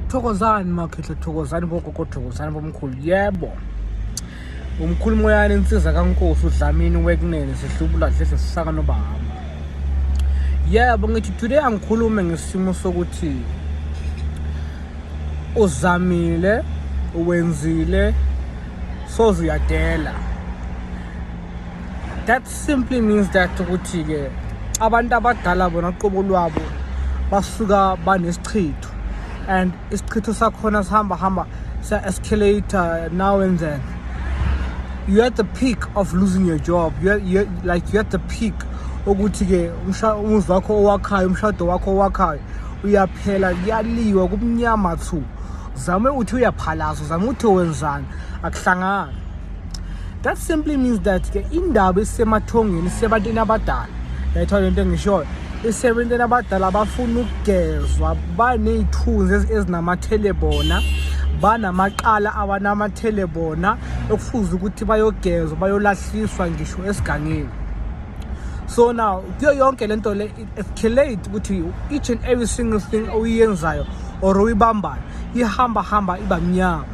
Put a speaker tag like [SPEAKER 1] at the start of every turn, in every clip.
[SPEAKER 1] thokozani makhehle thokozani bogogo thokozani bomkhulu yebo umkhulu moyane insiza kankosi udlamini wekunene sihlubula dlese sisaka nobahamba yebo ngithi today angikhulume ngesimo sokuthi uzamile wenzile soze uyadela that simply means that ukuthi-ke abantu abadala bona qobo lwabo basuka banesichitho and isichitho sakhona sihamba hamba sa-escalator now and then you're at the peak of losing your job you're, you're, like you're at the peak ukuthi-ke umuzi wakho owakhayo umshado wakho owakhayo uyaphela kuyaliwa kumnyama thu zame uthi uyaphalaza zame uthi wenzani akuhlangani that simply means that ke indaba isemathongweni isebantwini abadala yayithiwa le nto engishoyo isebantwini abadala abafuna ukugezwa baney'thunzi ezinamathele bona banamaqala abanamathele bona okufuze ukuthi bayogezwa bayolahliswa ngisho esigangeni so now kuyo yonke le nto le escalate ukuthi each and every single thing oyiyenzayo or uyibambayo ihamba hamba iba mnyama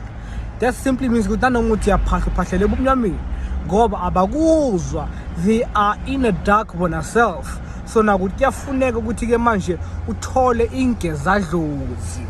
[SPEAKER 1] that simply means ukuthi nanoma uthi uyaphahla uphahlela ebumnyameni ngoba abakuzwa they are in a dark bona self so nakuthi kuyafuneka ukuthi-ke manje uthole ingezadlozi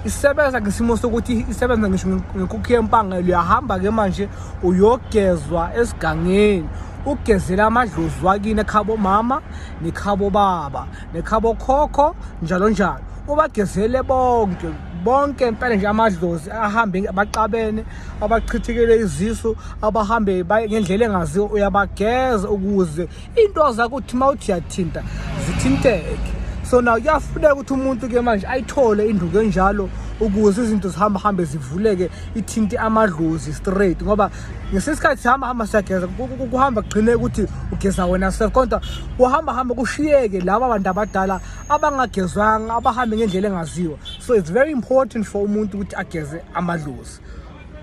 [SPEAKER 1] isebenza ngesimo sokuthi isebenza ngisho ngenkukhu yempangelo uyahamba-ke manje uyogezwa esigangeni ugezela amadlozi wakini ekhabo mama nekhabo baba nekhabokhokho njalo njalo ubagezele bonke bonke impela nje amadlozi ahambe baxabene abachithekele izisu abahambe ngendlela engaziwa uyabageza ukuze into zakho uthi uma uthi yathinta zithinteke so na kuyafuneka ukuthi umuntu ke manje ayithole induku enjalo ukuze izinto zihambe hambe zivuleke ithinte amadlozi straight ngoba ngesinye isikhathi sihamba hamba siyageza kuhamba kugcine ukuthi ugeza wena self kodwa kuhamba hamba kushiyeke laba bantu abadala abangagezwanga abahambe ngendlela engaziwa so it's very important for umuntu ukuthi ageze amadlozi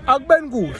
[SPEAKER 1] akubeni kuhle